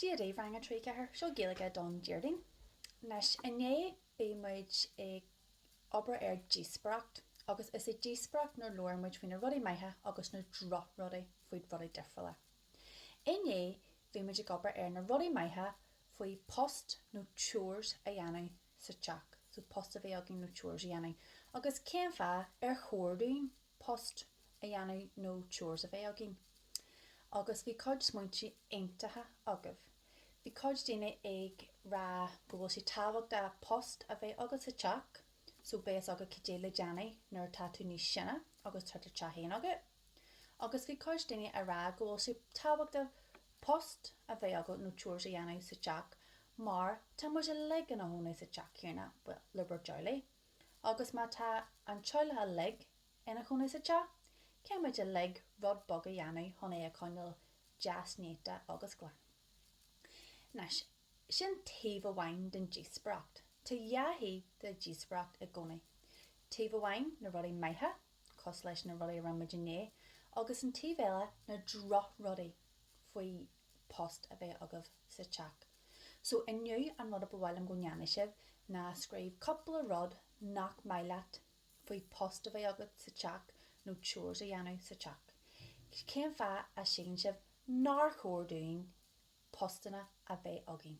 Dia daoibh rang 3 4, seo Gaeilge don Déardaoin. Anois, inné bhí muid ag obair ar díospóireacht agus is é díospóireacht nuair labhair muid faoi na rudaí maithe agus na drochrudaí faoi rudaí difriúla. Inné bhí muid ag obair ar na rudaí maithe faoi post nó chores a dhéanamh sa teach, so post a bheith againn nó chores a dhéanamh agus cén fáth ar chóir dúinn post a dhéanamh nó chores a bheith againn. Agus bhí cuid smaointe iontach agaibh. Bhí cuid daoine ag rá go bhfuil sé tábhachtach post a bheith agat sa teach so beidh a fhios agat cad é le déanamh nuair atá tú níos sine agus tá do teach fhéin agat. Agus bhí cuid daoine ag rá go bhfuil sé tábhachtach post a bheith agat nó chores a dhéanamh sa teach mar tá muid uilig ina gcónaí sa teach céanna, bhuel, i bur dteaghlaigh. agus má tá an teaghlach uilig ina chónaí sa teach, caithfidh muid uilig rud beag a dhéanamh chun é a choinneáil deas néata agus glan? Anois, sin taobh amháin den díospóireacht. Tá dhá thaobh de dhíospóireacht i gcónaí. Taobh amháin, na rudaí maithe, cosúil leis na rudaí a rinne muid inné, agus an taobh eile, na drochrudaí, faoi post a bheith agaibh sa teach, So inniu an rud a ba mhaith liom go ndéanfaidh sibh ná scríobh cúpla rud nach maith leat faoi post a bheith agat sa teach nó chores a dhéanamh sa teach. Cén fáth a síleann sibh nár chóir dúinn postanna a bheith againn?